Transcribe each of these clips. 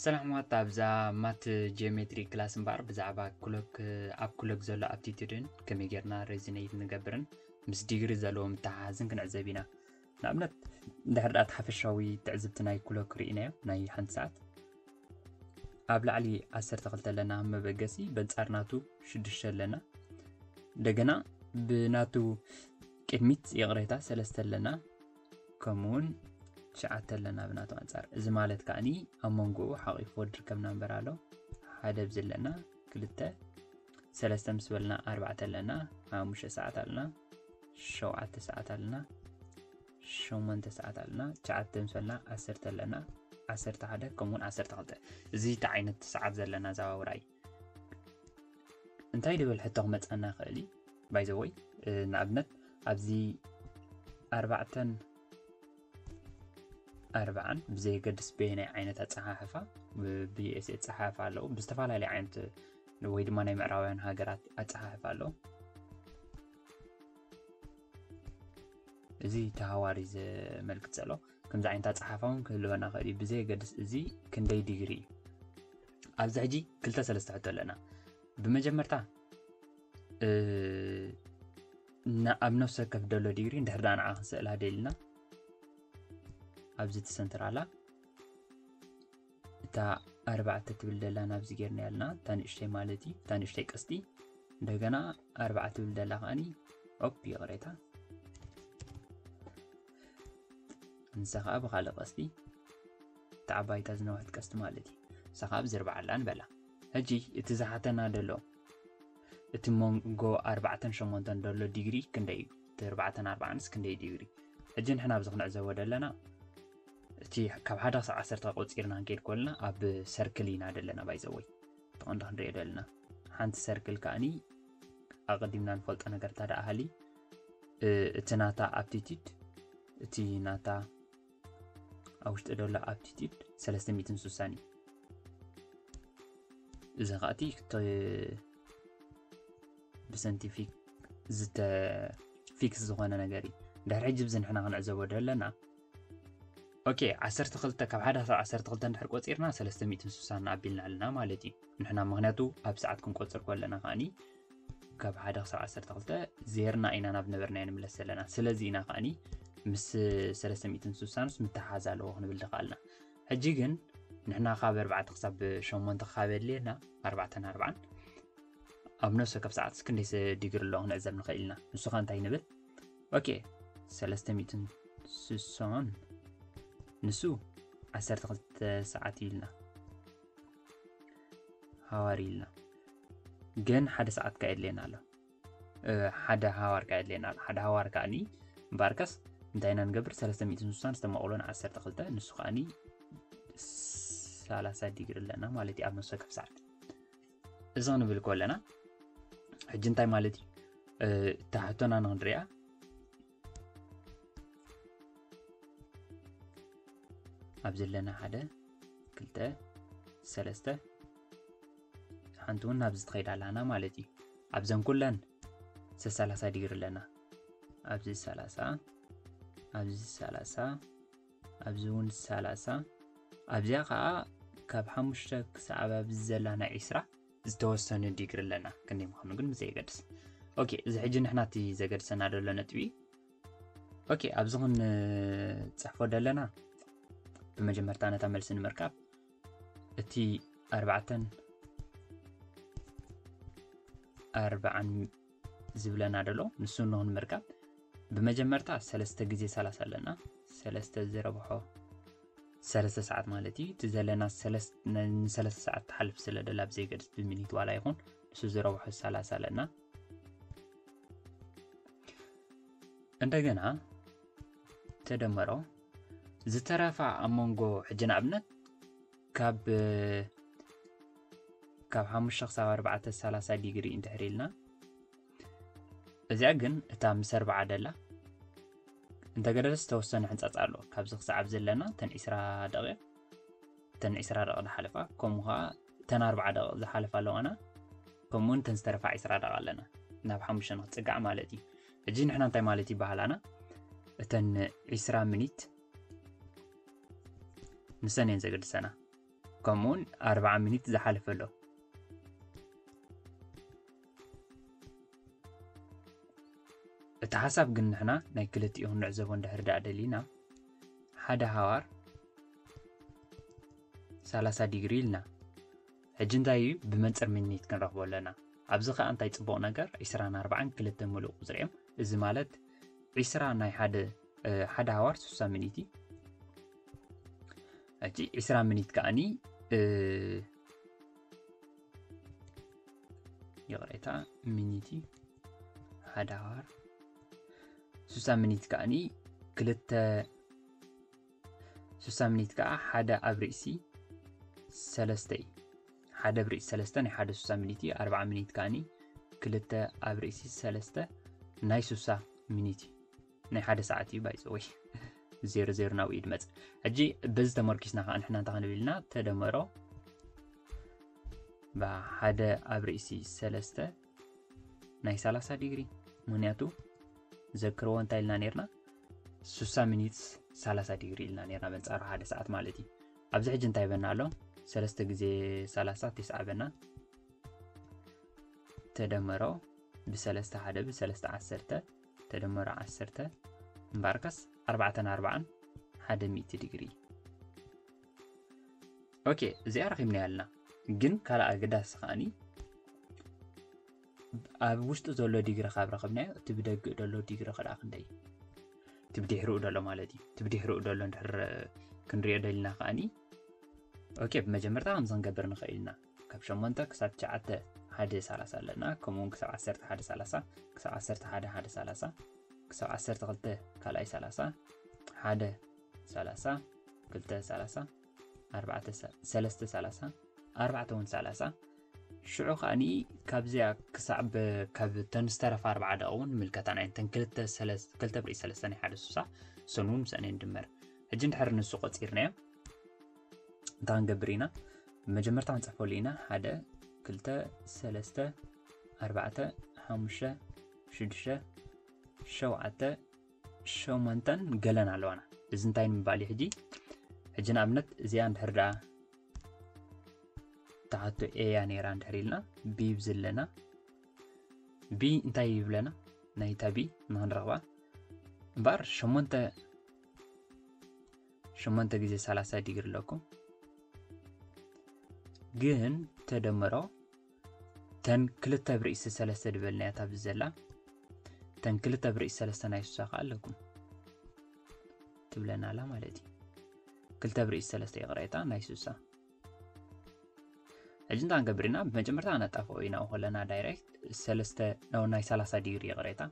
ሰላም ዋት ኣብዛ ማት ጂኦሜትሪ ክላስ እምበኣር ብዛዕባ ኩሎክ ኣብ ኩሎክ ዘሎ ኣፕቲቱድን ከመይ ጌርና ሬዚነይት ንገብርን ምስ ዲግሪ ዘለዎ ምተሓሓዝን ክንዕዘብ ኢና ንኣብነት እንድሕር ድኣ እቲ ሓፈሻዊ ትዕዝብቲ ናይ ክሎክ ርኢናዮ ናይ ሓንቲ ሰዓት ኣብ ላዕሊ 12 ኣለና መበገሲ በንጻር ናቱ 6 ኣለና እንደገና ብናቱ ቅድሚት ይቕሬታ ሰለስተ ኣለና ከምኡውን ትሽዓተ ኣለና ብናቱ ኣንጻር እዚ ማለት ከዓኒ ኣብ መንጎኡ ሓቂፎ ድርከብ ናምበር ኣሎ ሓደ ብዚ ኣለና ክልተ ሰለስተ ምስ በልና ኣርባዕተ ኣለና ሓሙሽተ ሰዓት ኣለና ሸውዓተ ሰዓት ኣለና ሸሞንተ ሰዓት ኣለና ትሽዓተ ምስ በልና ዓሰርተ ኣለና ዓሰርተ ሓደ ከምኡውን ዓሰርተ ክልተ እዚ እቲ ዓይነት ሰዓት ዘለና ዘባውራ እዩ እንታይ ድብል ሕቶ ክመፀና ይኽእል እዩ ባይዘወይ ንኣብነት ኣብዚ ኣርባዕተን ኣርብዓን ብዘየገድስ በየናይ ዓይነት ኣፀሓሕፋ ብዩኤስ ኣፀሓሕፋ ኣለዉ ብዝተፈላለየ ዓይነት ወይ ድማ ናይ ምዕራባውያን ሃገራት ኣፀሓሕፋ ኣለዉ እዚ ተሃዋሪ ዘመልክት ዘሎ ከምዚ ዓይነት ኣፀሓሕፋ እውን ክህልወና ክእል እዩ ብዘየገድስ እዚ ክንደይ ዲግሪ እዩ ኣብዚ ሕጂ ክልተ ሰለስተ ሕቶ ኣለና ብመጀመርታ ን ኣብ ነፍሲ ወከፍ ደሎ ዲግሪ እንድሕር ደኣ ንዓ ክንስእላ ደሊና ኣብዚ ትሰንትር ኣላ እታ ኣርባዕተ ትብል ደላ ናብዚ ጌርና ያልና እታ ንእሽተይ ማለት እዩ እታ ንእሽተይ ቀስቲ እንደገና ኣርባዕተ ትብል ደላ ከዓኒ ኦፕ ይቕሬታ ንሳ ከዓ ብካልእ ቀስቲ ተዓባይታ ዝነውሐት ቀስቲ ማለት እዩ ንሳ ከዓ ብዝርባዓላ ንበላ ሕጂ እቲ ዝሓተና ደሎ እቲ ሞንጎ ኣርባዕተን ሸሞንተን ደሎ ዲግሪ ክንደይ እዩ እቲ ኣርባዕተን ኣርባዓንስ ክንደይ ዲግሪ ሕጂ ንሕና ኣብዚ ክንዕዘቦ ደለና እቲ ካብ ሓደ ክሳብ ዓሰርተ ቆፂርና ክንከይድ ኮልና ኣብ ሰርክል ኢና ደለና ባይዘወይ ተቐንዲ ክንሪኦ ደለና ሓንቲ ሰርክል ከዓኒ ኣቐዲምና ንፈልጦ ነገር እንታ ደኣ ሃሊ እቲ ናታ ኣፕቲቲድ እቲ ናታ ኣብ ውሽጢ ዘሎ ኣብቲቲድ 360 እዩ እዚ ከኣቲ ብሰንቲፊክ ዝተ ፊክስ ዝኾነ ነገር እዩ ድሕሪ ሕጂ ብዚ ንሕና ክንዕዘቦ ደለና ኦኬ 12 ካብ ሓደ ክሳብ 12 እንድሕር ቆፂርና 360 ኣቢልና ኣለና ማለት እዩ ንሕና ምክንያቱ ኣብ ሰዓት ክንቆፅር ከለና ከዓኒ ካብ ሓደ ክሳብ ዓሰርተ ክልተ ዜርና ኢና ናብ ነበርናዮ ንምለስ ዘለና ስለዚ ኢና ከዓኒ ምስ ሰለስተ ሚእትን ስሳንስ ምትሓዝ ኣለዎ ክንብል ድኸኣልና ሕጂ ግን ንሕና ካብ ኣርባዕተ ክሳብ ሸሞንተ ካብ የድልየና ኣርባዕተን ኣርባዓን ኣብ ነፍሲ ወከፍ ሰዓት ክንደይ ዲግሪ ኣሎ ክንዕዘብ ንኽእል ኢና ንሱ ኸ እንታይ ንብል ኦኬ ሰለስተ ሚእትን ስሳን ንሱ ዓሰርተ ክልተ ሰዓት እዩ ኢልና ሃዋር ኢልና ግን ሓደ ሰዓት ካ የድልየና ኣሎ ሓደ ሃዋር ካ የድልየና ኣሎ ሓደ ሃዋር ከዓኒ እምበኣርከስ እንታይ ኢና ንገብር 360 ዝተማቕሎን 12 ንሱ ከዓኒ 30 ዲግሪ ኣለና ማለት እዩ ኣብ ነፍሰ ወከፍ ሰዓት እዚ ክንብል ከለና ሕጂ እንታይ ማለት እዩ እታ ሕቶና ንክንሪኣ ኣብዚ ኣለና ሓደ ክልተ ሰለስተ ሓንቲ እውን ናብዚ ትኸይድ ኣላና ማለት እዩ ኣብዘን ኩለን ሰሰላሳ ዲግሪ ኣለና ኣብዚ ሰላሳ ኣብዚ ሰላሳ ኣብዚ እውን ሰላሳ ኣብዚኣ ከዓ ካብ ሓሙሽተ ክሳብ ኣብዚ ዘላ ናይ ዒስራ ዝተወሰነ ዲግሪ ኣለና ክንደይ ምዃኑ ግን ብዘየገድስ ኦኬ እዚ ሕጂ ንሕና እቲ ዘገድሰና ደሎ ነጥቢ ኦኬ ኣብዚ ኹን ፅሕፎ ደለና ብመጀመርታ ነታ መልሲ ንምርካብ እቲ ኣርባዕተን ኣርባዓን ዝብለና ደሎ ንሱ እንሆ ንምርካብ ብመጀመርታ ሰለስተ ግዜ ሰላሳ ኣለና ሰለስተ ዝረብሖ ሰለስተ ሰዓት ማለት እዩ እቲ ዘለና ንሰለስተ ሰዓት ትሓልፍ ስለ ደላ ብዘይገድስ ብሚኒት ዋላ ይኹን ንሱ ዝረብሖ ሰላሳ ኣለና እንደገና ተደመሮ ዝተረፋ ኣብ መንጎ ሕጂ ንኣብነት ካብ ካብ ሓሙሽተ ክሳብ ኣርባዕተ ሰላሳ ዲግሪ እንድሕር ኢልና እዚኣ ግን እታ ምስ ኣርባዓ ደላ እንተገደደ ዝተወሰነ ሕንፃፅ ኣሎ ካብዚ ክሰዓብ ዘለና ተን ዒስራ ደቂቕ ተን ዒስራ ደቂ ዝሓለፋ ከምኡ ከዓ ተን ኣርባዓ ደቂ ዝሓለፋ ኣለዋና ከምኡውን ተን ዝተረፋ ዒስራ ደቂ ኣለና ናብ ሓሙሽተ ንክፅጋዕ ማለት እዩ ሕጂ ንሕና እንታይ ማለት ይበሃላና እተን ዒስራ ሚኒት ንሰን እየን ዘገድሰና ከምኡውን ኣርባዓ ሚኒት ዝሓለፈ ኣሎ እቲ ሓሳብ ግን ንሕና ናይ ክልቲኡ ክንዕዘቦ እንድሕር ዳኣ ደሊና ሓደ ሃዋር 30 ዲግሪ ኢልና ሕጂ እንታይ እዩ ብመንጽር ሚኒት ክንረኽቦ ኣለና ኣብዚ ከኣ እንታይ ጽቡቕ ነገር ዒስራን ኣርባዓን ክልተ ምሉእ ቁጽሪ እዮም እዚ ማለት ዒስራ ናይ ሓደ ሓደ ሃዋር ስሳ ሚኒት እዩ ሕጂ ዒስራ ሚኒት ከኣኒ ይቕሬታ ሚኒት እዩ ሓደ ሃዋር ስሳ ሚኒት ከኣኒ ክልተ ስሳ ሚኒት ከኣ ሓደ ኣብ ርእሲ ሰለስተ እዩ ሓደ ኣብ ርእሲ ሰለስተ ናይ ሓደ ስሳ ሚኒት እዩ ኣርብዓ ሚኒት ከኣኒ ክልተ ኣብ ርእሲ ሰለስተ ናይ ስሳ ሚኒት እዩ ናይ ሓደ ሰዓት እዩ ባይዘወይ ዜሮ ዜሮ ናብኡ ይድመፅ ሕጂ በዚ ተመርኪስና ከዓ ንሕና እንታይ ክንብል ኢልና ተደመሮ ብሓደ ኣብ ርእሲ ሰለስተ ናይ ሰላሳ ዲግሪ ምክንያቱ ዘክርዎ እንታይ ኢልና ነርና ስሳ ሚኒትስ ሰላሳ ዲግሪ ኢልና ነርና በንጻሩ ሓደ ሰዓት ማለት እዩ ኣብዚ ሕጂ እንታይ በና ኣሎ ሰለስተ ግዜ ሰላሳ ትስዓ በና ተደመሮ ብሰለስተ ሓደ ብሰለስተ ዓሰርተ ተደመሮ ዓሰርተ እምበኣርከስ ኣርባዕተን ኣርባዓን ሓደ ሚእቲ ዲግሪ ኦኬ እዚኣ ረኺብናያ ኣለና ግን ካልእ ኣገዳሲ ከዓኒ ኣብ ውሽጢ ዘሎ ዲግሪ ካብ ረኽብናዮ እቲ ብደግእ ዘሎ ዲግሪ ክልኣ ክንደይ እቲ ብድሕርኡ ዘሎ ማለት እዩ እቲ ብድሕርኡ ዘሎ ንድሕር ክንሪኦ ደሊና ከዓኒ ኦኬ ብመጀመርታ ከምዚ ክንገብር ንኽእል ኢና ካብ 8 ክሳብ 9 ሓደ 30 ኣለና ከምኡ ውን ክሳብ 1 ሓደ 30 ክሳብ 1 ሓደ ሓደ 30 ክሳብ 12 ካልኣይ 30 ሓደ ሰላሳ ክልተ ሰላሳ ኣርባዕተ ሰለስተ ሰላሳ ኣርባዕተ እውን ሰላሳ ሽዑ ከዓኒ ካብዚያ ክሳዕ ካብ ተን ዝተረፋ ኣርባዓ ደቂ እውን ንምልከታን ዓይነተን ክልተ ብሪ ሰለስተ ናይ ሓደ ሱሳ ሰን እውን ምስአን ንድመር ሕጂ እንድሕር ንሱ ቆፂርናዮ እንታይ ክንገብር ኢና መጀመርታ ክንፅሕፈሉ ኢና ሓደ ክልተ ሰለስተ ኣርባዕተ ሓሙሽተ ሽዱሽተ ሸውዓተ ሸሞንተን ገለን ኣለዋና እዚ እንታይ ንምባል እዩ ሕጂ ሕጂ ንኣብነት እዚኣ እንድሕር ደኣ ትሓቶ ኤያ ነይራ እንድሕር ኢልና ቢ ብዝለና ቢ እንታይ ይብለና ናይታ ቢ ንክንረኽባ እምበኣር ሸሞንተ ሸሞንተ ግዜ ሰላሳ ዲግሪ ኣለኩም ግን ተደምሮ ተን ክልተ ብርእሲ ሰለስተ ድበልናያ ታብዚ ዘላ ተን ክልተ ብርእሲ ሰለስተ ናይ ሱሳ ከዓ ኣለኩም ትብለና ኣላ ማለት እዩ ክልተ ብርእሲ ሰለስተ ይቕሬታ ናይ ሱሳ ሕጂ እንታይ ንገብር ኢና ብመጀመርታ ኣነጣፍኦ ኢና ከለና ዳይሬክት ሰለስተ ናይ ሰላሳ ዲግሪ ይቕሬታ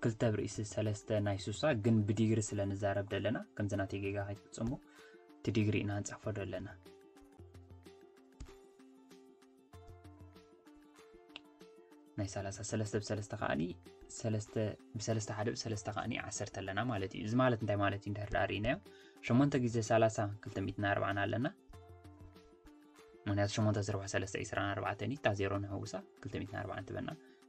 ክልተ ብርእሲ ሰለስተ ናይ ሱሳ ግን ብዲግሪ ስለ ንዛረብ ደለና ከምዚ ናተይ ጌጋ ከይትፍፅሙ እቲ ዲግሪ ኢና ንፅሕፎ ደለና ናይ ሰላሳ ሰለስተ ብሰለስተ ከዓኒ ሰለስተ ብሰለስተ ሓደ ብሰለስተ ከዓኒ ዓሰርተ ኣለና ማለት እዩ እዚ ማለት እንታይ ማለት እዩ እንድሕር ዳኣ ርኢናዮ ሸሞንተ ግዜ ሰላሳ ክልተ ሚእትን ኣርባዓን ኣለና ምክንያቱ ሸሞንተ ዝርባሕ ሰለስተ እዩ ስራን ኣርባዕተን እዩ እታ ዜሮ ንሕውሳ ክልተ ሚእትን ኣርባዓን ትበና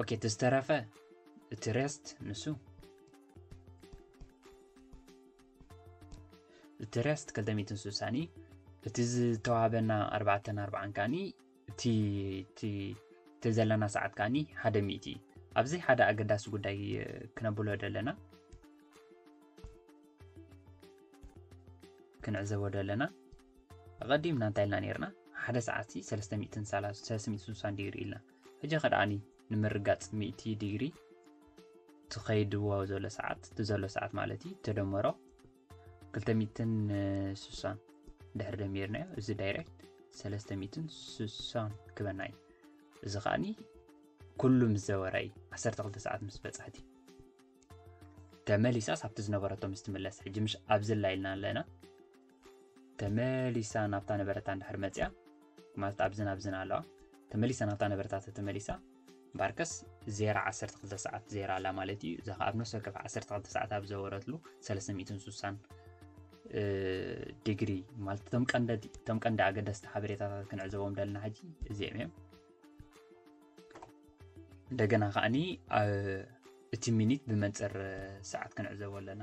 ኦኬ እቲ ዝተረፈ እቲ ሬስት ንሱ እቲ ሬስት 260 እዩ እቲ ዝተዋህበና 4 4 ከዓኒ እቲ ዘለና ሰዓት ከዓኒ ሓደ ሚእቲ እዩ ኣብዚ ሓደ ኣገዳሲ ጉዳይ ክነብሎ ደለና ክንዕዘቦ ደለና ኣቐዲምና እንታይ ኢልና ነርና ሓደ ሰዓት 360 ዲግሪ ኢልና ሕጂ ከድኣኒ ንምርጋጽ ሚእቲ ዲግሪ ትኸይድዎ ዘሎ ሰዓት ትዘሎ ሰዓት ማለት እዩ ተደመሮ ክልተ ሚእትን ስሳን ድሕሪ ደሚርናዮ እዚ ዳይሬክት ሰለስተ ሚእትን ስሳን ክበና እዩ እዚ ከዓኒ ኩሉ ምስ ዘወረ እዩ ዓሰርተ ክልተ ሰዓት ምስ በጻሕት እዩ ተመሊሳስ ኣብቲ ዝነበረቶ ምስ ትምለስ ሕጂ ምሽ ኣብዝላ ኢልና ኣለና ተመሊሳ ናብታ ነበረታ እንድሕር መጽያ ማለት ኣብዝን ኣብዝን ኣለዋ ተመሊሳ ናብታ ነበረታ ተተመሊሳ ባርከስ ዜራ 12 ሰዓት ዜራ ኣላ ማለት እዩ እዛ ኣብ ነፍሲ ወከፍ 12 ሰዓት ኣብ ዘወረትሉ 360 ዲግሪ ማለት እቶም ቀንዲ እቶም ቀንዲ ኣገደስቲ ሓበሬታታት ክንዕዘቦም ደለና ሕጂ እዚኦም እዮም እንደገና ከዓኒ እቲ ሚኒት ብመንፅር ሰዓት ክንዕዘቦ ኣለና